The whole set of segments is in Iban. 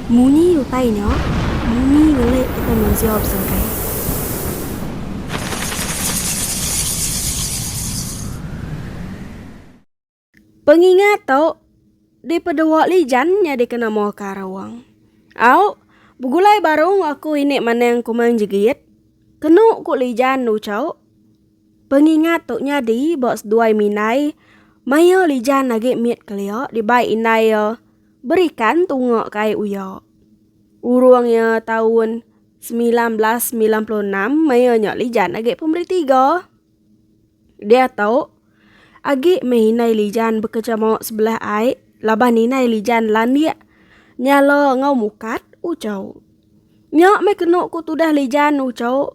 Munyi utai nya, bumi ngelik kitai mensia besangkai. Pengingat tu dipedua Lijan nyadi kena moh karung. Au, begulai barung aku ini manang kumang jegit, kenu ku Lijan nuchau. Pengingat tu nyadi ba seduai minai maya Lijan agi mit kelia dibai indai iya berikan tunga ke ai uya. Urung iya taun 1996 maya nya Lijan agi pemeri tiga. Diatu agi meh indai Lijan bekejama sebelah ai laban indai Lijan landik nyala enggau mukat Uchu. Nya meh kenu ku tudah Lijan Uchu.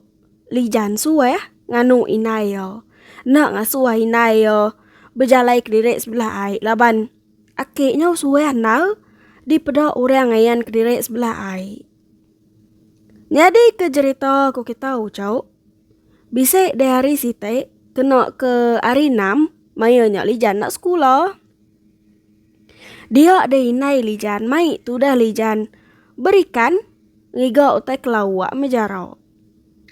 Lijan Suweh nganu indai iya. Enda ngasuh ai indai iya bejalai kediri sebelah ai laban aki nyo suweh andal dipeda orang ngayan kediri sebelah ai. Nyadi ke jerita ku kita ucok bisi di hari siti kena ke hari enam maya nya Lijan enda sekula. Dia deh indai lijan mai tudah lijan berikan ngiga utai kelawa meh jarau.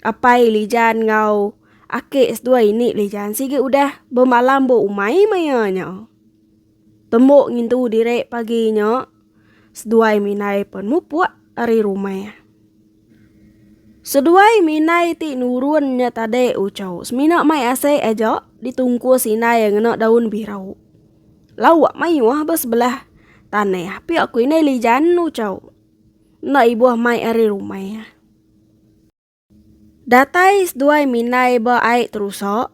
Apai lijan enggau ake seduai ini lijan sigi udah bemalam ba umai meh iya nya. Tembu ngintu diri pagi nya seduai meh indai pen mupuk ari rumah. Seduai meh indai ti nurun nya tade uchu semina mai asai aja ditungkus indai ngena daun birau. Lawak mayuh ba sebelah tanah. Pia ku indai li janu cau. Enda ibuh mai ari rumah. Datai seduai minai ba ai terusak.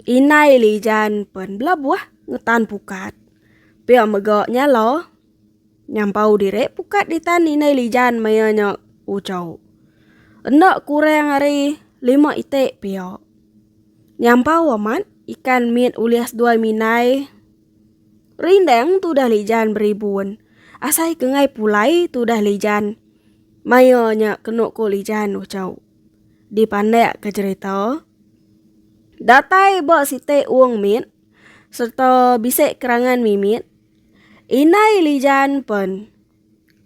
Inai lijan pen belabuh ngetan pukat. Pia mega nyala. Nyampau diri pukat ditan indai lijan maya nya ucau. Enda kurang ari lima iti pia. Nyampau amat ikan mit ulih seduai mindai. Rindang tudah lijan beribun. Asai kengai pulai tudah lijan. Maya nya kenu ko lijan ucau. Dipandak ke cerita. Datai ba siti ung mit serta bisi kerangan mimit. Indai Lijan pen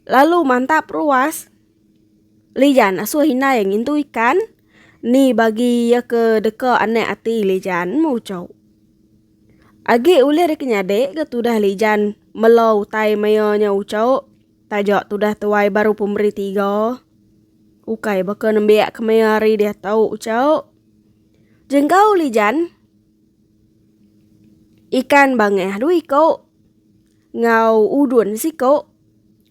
lalu mantap ruas. Lijan asuh indai ngintu ikan. Ni bagi iya ke deka anak ati Lijan muchau. Agi ulih deka nyadi ke tudah Lijan melo utai maia nya uchau taja tudah tuai baru pemeri tiga. Ukai baka nembiak ke maia ari diatu uchau. Jengkau Lijan. Ikan bangah dua iku enggau udun siku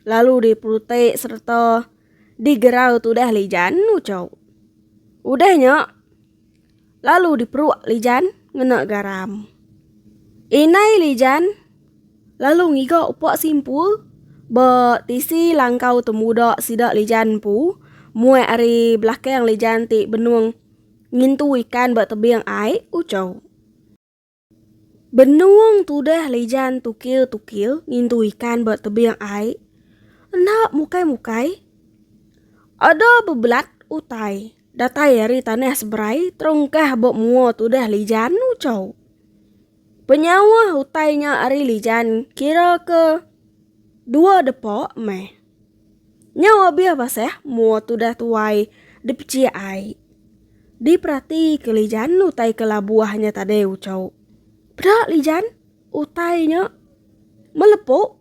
lalu diperutik sereta digerau tudah lijan uchu. Udah nya lalu diperuk lijan ngena garam. Inai lijan lalu ngiga upa simpul ba tisi langkau temuda sida lijan empu muat ari belakang lijan ti benung. Ngintu ikan ba tebing ai ucau. Benung tudah lijan tukil-tukil ngintu ikan ba tebing ai. Enda mukai-mukai. Ada bebelat utai datai ari tanah seberai terungkah ba mua tudah lijan ucau. Penyauh utai nya ari Lijan kira ke dua depa meh. Nyau abih basah mua tudah tuai dipechik ai. Diperati ke Lijan utai ke labuh nya tadi uchu. Peda Lijan utai nya melepu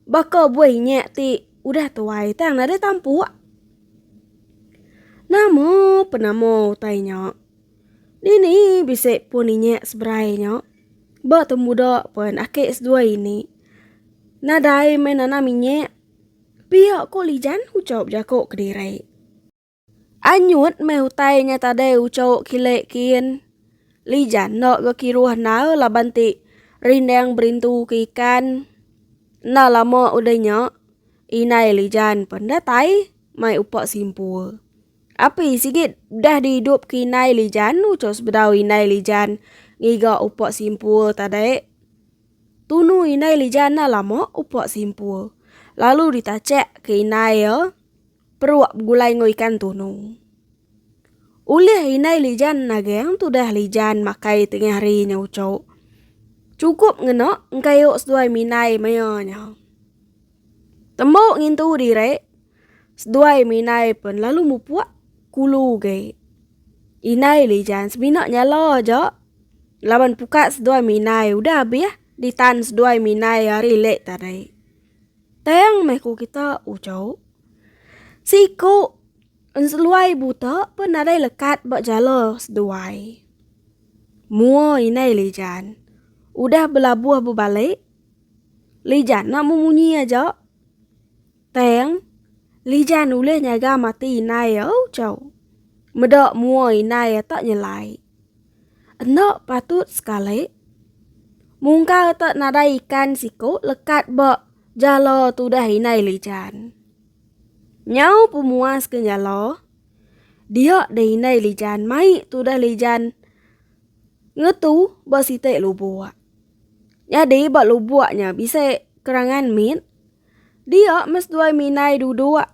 baka buai inya ti udah tuai tang nadai tampuk. Nama penama utai nya? Nini bisi pun inya seberai nya. Ba tembuda pen ake seduai ini. Nadai meh nanam inya. Pia ko Lijan ucau bejako kediri. Anyut meh utai nya tadai ucau kile kin. Lijan enda ga kiruh nau laban ti rindang berintu ke ikan. Enda lama udah nya inai Lijan pen datai mai upa simpul. Api sigit dah dihidup ke inai lijan ucok sebedau inai lijan ngiga upok simpul tadai. Tunu inai lijan na lama upok simpul. Lalu ditacek ke inai ya peruk begulai enggau ikan tunu. Ulih inai lijan nageng tudah lijan makai tengah hari nya ucok. Cukup ngena engkayo seduai minai maya nya. Tembu ngintu diri, seduai minai pen lalu mupuk kulu ge. Inai lijan semina nyala aja laban pukat seduai minai udah abih ditan seduai minai ari lek tadi. Tang meh ku kita ujau siku enseluai buta pen nadai lekat ba jala seduai. Mua inai lijan udah belabuh bebalik. Lijan enda memunyi aja. Tang, Lijan ulih nyaga mati inai iya ucau. Meda mua inai iya tak nyelai. Enda patut sekali. Mungkar tak nadai ikan siku lekat ba jala tudah inai Lijan. Nyau pemuas ke nyala, dia deh inai Lijan mai tudah Lijan ngetu ba siti lubuk. Nyadi ba lubuk nya bisi kerangan mit. Dia mes duai minai duduk.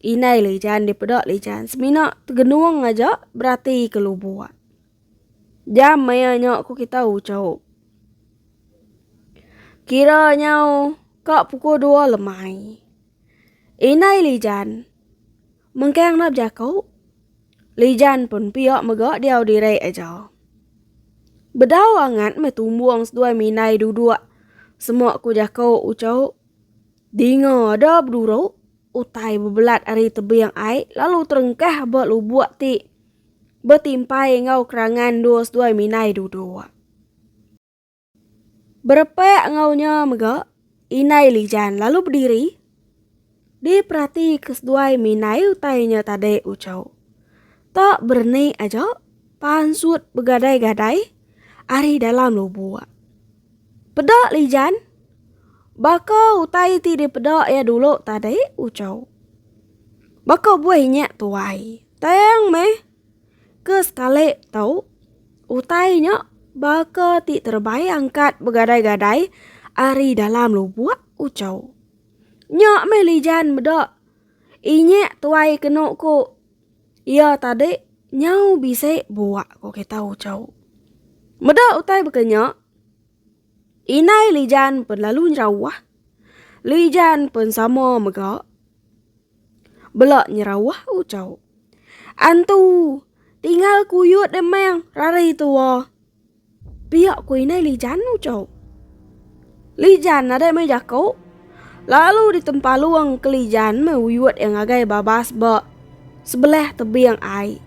Inai lijan dipeda lijan semina tegenung aja berati ke lubuk. Jam maya nya ku kita uchup. Kira nyau ka pukul dua lemai. Inai lijan. Mengkang enda bejaku. Lijan pun pia mega diau diri aja. Bedau angat meh tumbung seduai minai duduk. Semua ku jaku uchu. Dinga ada beduru utai bebelat ari tebing ai lalu terengkah ba lubuk ti betimpai enggau kerangan dua seduai minai duduk. Berepak enggau nya mega, indai Lijan lalu bediri diperati ke seduai mindai utai nya tadi uchau. Tak bereni aja pansut begadai-gadai ari dalam lubuk. Peda Lijan, baka utai ti dipeda iya dulu tadi uchau. Baka buai nya tuai, tang meh. Ke sekali tau, utai nya baka ti terebai angkat begadai-gadai ari dalam lubuk ucau. Nya meh lijan meda. Inyek tuai kenu ku iya tadi nyau bisi buak ko kita ucau. Meda utai baka nya, indai lijan pen lalu nyerauh, lijan pen sama mega. Bela nyerawah ucau. Antu, tinggal kuyut demang rari tua. Pia ku inai Lijan ucau. Lijan nadai meh jako. Lalu ditempalung ke Lijan meh uyut iya ngagai babas ba sebelah tebing ai.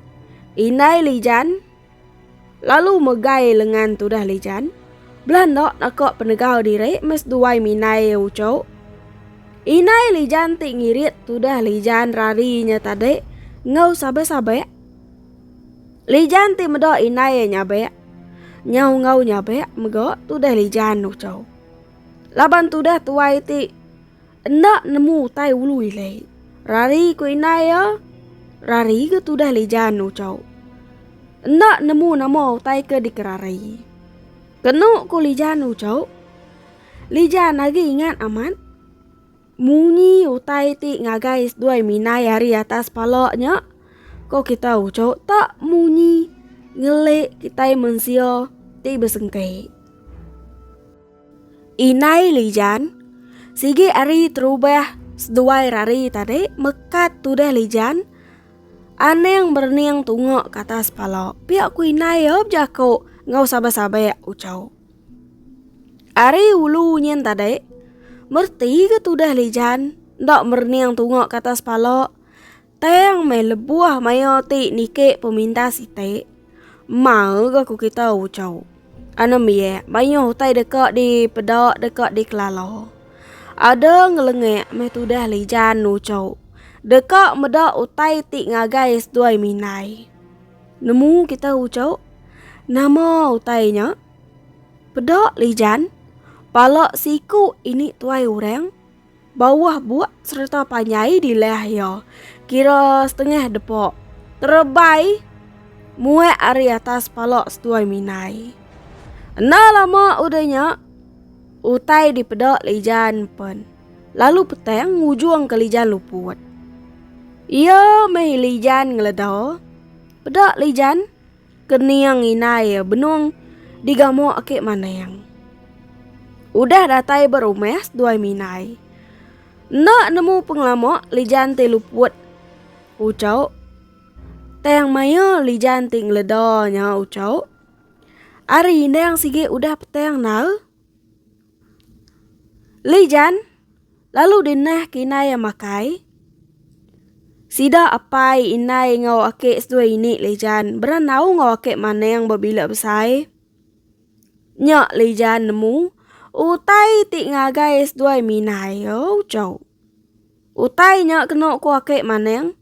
Inai Lijan Lalu megai lengan tudah lijan, bela enda naka penegau diri mes duai minai iya ucuk. Inai lijan ti ngirit tudah lijan rari nya tadi enggau sabek-sabek. Lijan ti meda inai iya nyabek. Nyau enggau nyabek mega tudah lijan ucuk. Laban tudah tuai ti. Enda nemu utai ulu ile. Rari ku indai iya. Rari ke tudah lijan ucau. Enda nemu nama utai ke dikerari. Kenu ku lijan ucau. Lijan agi ingat amat. Munyi utai ti ngagai seduai minai ari atas pala nya. Ko kita ucau tak munyi ngelik kitai mensia ti besengkei. Indai Lijan, sigi ari terubah seduai rari tadi mekat tudah Lijan. Anang berening tunga ke atas pala. Pia ku indai ya bejaku ngau sabak-sabak ucau. Ari ulu nyin tadi, mereti ke tudah Lijan enda merening tunga ke atas pala. Tang meh lebuh maya ti niki peminta siti, mau ga ku kita ucau. Ana miak mayuh utai deka dipeda deka dikelala. Ada ngelengak meh tudah lijan ucau deka meda utai ti ngagai seduai minai. Nemu kita ucau nama utai nya? Peda lijan pala siku ini tuai orang. Bauh buak sereta panjai di leh iya, kira setengah depa, terebai muak ari atas pala seduai minai. Enda lama udah nya, utai dipeda Lijan pen, lalu petang ngujungka Lijan luput. Iya meh Lijan ngeleda, peda Lijan. Kening inai ya benung digamu ake maneng. Udah datai berumes duai minai. Enda nemu pengelama lijan ti luput. Ucau. Tang maya lijan ti ngeleda nya ucau. Ari indang sigi udah petang nal. Lijan. Lalu dinah ke indai iya makai. Sida apai indai enggau ake seduai ini Lijan berenau enggau ake maneng bebila besai. Nya Lijan nemu utai ti ngagai seduai minai yo chau. Utai nya keno ku ake maneng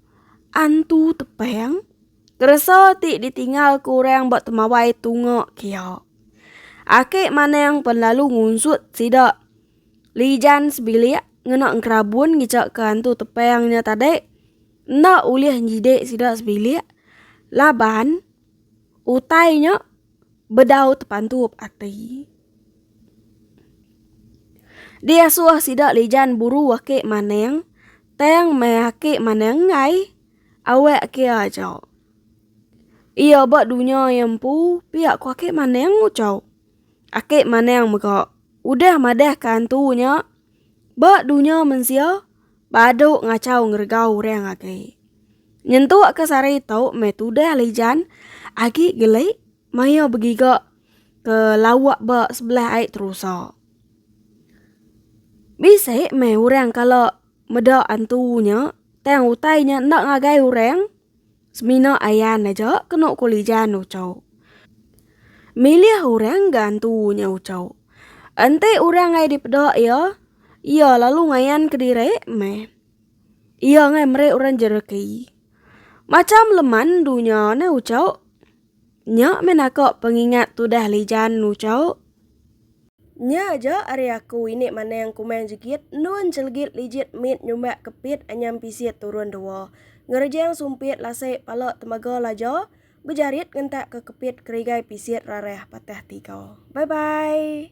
antu tepeng keresa ti ditingal ku orang ba temawai tunga kia. Ake maneng pen lalu ngunsut sida. Lijan sebilik ngena enkerabun ngechaka antu tepang nya tadi enda ulih nyidik sida sebilik laban utai nya bedau tepantup ati. Diasuh sida lijan buru ake maneng tang meh ake maneng enggai awak ke aja. Ia ba dunya empu pia ko ake maneng ucau. Ake manang mega udah madahka antu nya ba dunya mensia badu ngachau ngeregau orang agi. Nyentuk ke sehari tu meh tudah lijan agi geli maya begiga ke lawa ba sebelah ai terusa. Bisi meh orang kala meda antu nya tang utai nya enda ngagai orang. Semina ayan aja kena kulijan ucau. Milih orang gantu nya ucau. Enti orang ai dipeda iya, iya lalu ngayan kediri meh. Iya ngai meri orang jereki. Macham leman dunya ne ucau. Nya meh naka pengingat tudah lijan nu chauk. Nya aja ari aku ini manang kumang jegit endun chelegit lijit mit nyumbak kepit anyam pisit turun dua. Ngerejang sumpit lasik pala temaga laja bejarit ngentak ke kepit kerigai pisit rarah patah tiga. Bye bye.